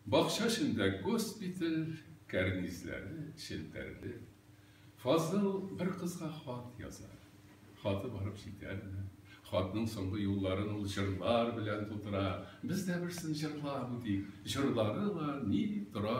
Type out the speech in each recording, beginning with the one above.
Бакча эчендә госпиталь кәрнизләре челтәрле. Фазыл бер кызга хат яза. Хаты барып җитәрме? Хатның соңгы юлларын ул җырлар белән тутыра. Без дә берсен җырлап үтик. Җырлары бар, ни дип тора.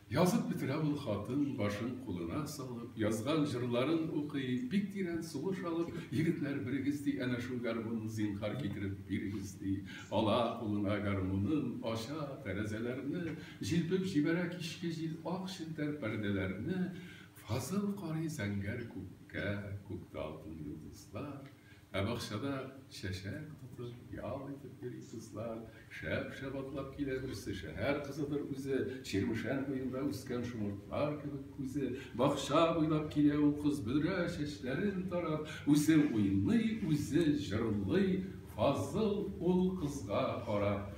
Язып бетерә ул хатын, башын кулына салып, язган җырларын укый, бик тирән сулыш алып, Егетләр, берегез, ди, әнә шул гармунны зинһар китереп бирегез, ди. Ала кулына гармунын, ача тәрәзәләрне, җилпеп җибәрә кичке җил ак челтәр пәрдәләрне, Фазыл карый зәңгәр күккә, күктә алтын йолдызлар, Ә бакчада чәчәк тотып, ял итеп йөри кызлар. Шәп-шәп атлап килә берсе, шәһәр кызыдыр үзе. Чирмешән буенда үскән шомыртлар кебек күзе. Бакча буйлап килә ул кыз, бөдрә чәчләрен тарап. Үзе уйный, үзе җырлый, Фазыл ул кызга карап.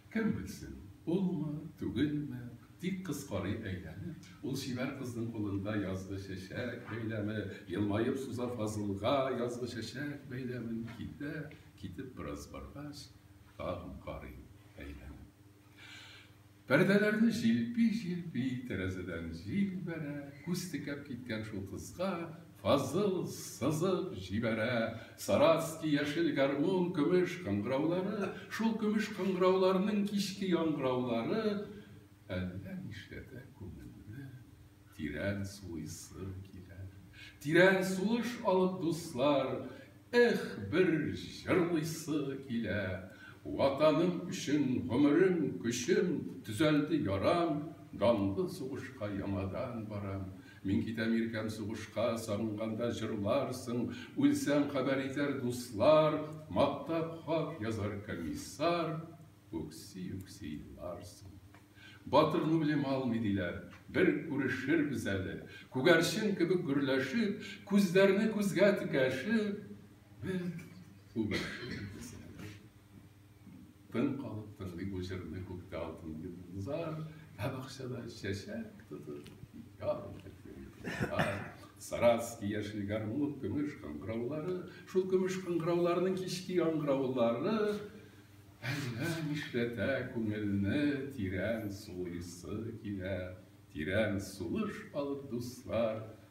Кем белсен, улмы, түгелме, тик кыз карый әйләнеп, ул чибәр кызның кулында язгы чәчәк бәйләме, елмаеп суза Фазылга язгы чәчәк бәйләмен, китә, китеп бераз баргач, тагын карый әйләнеп. Пәрдәләрне җилпи-җилпи, тәрәзәдән җил бәрә, күз текәп киткән шул кызга, Фазыл сызып җибәрә. Саратский яшел гармун көмеш кыңгыраулары, шул көмеш кыңгырауларның кичке яңгыраулары әллә нишләтә күңелне тирән сулыйсы килә. Тирән сулыш алып, дуслар, эх, бер җырлыйсы килә. Ватаным өчен гомерем, көчем, төзәлде ярам, данлы сугышка яңадан барам. Мин китәм иркәм сугышка, Сагынганда җырларсың, Үлсәм хәбәр итәр дуслар, Мактап хат язар комиссар, Үкси-үкси еларсың. Батырны үлем алмый диләр, Бер күрешербез әле, Күгәрчен кебек гөрләшеп, Күзләрне күзгә текәшеп, Без үбешербез әле. Тын калып тыңлый бу җырны күктә алтын йолдызлар, ә бакчада чәчәк тотып яр итеп Саратский яшел гармун көмеш кыңгыраулары, шул көмеш кыңгырауларның кичке яңгыраулары әллә нишләтә күңелне тирән сулыйсы килә. Тирән сулыш алып, дуслар,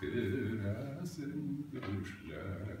Керәсен төшләремә.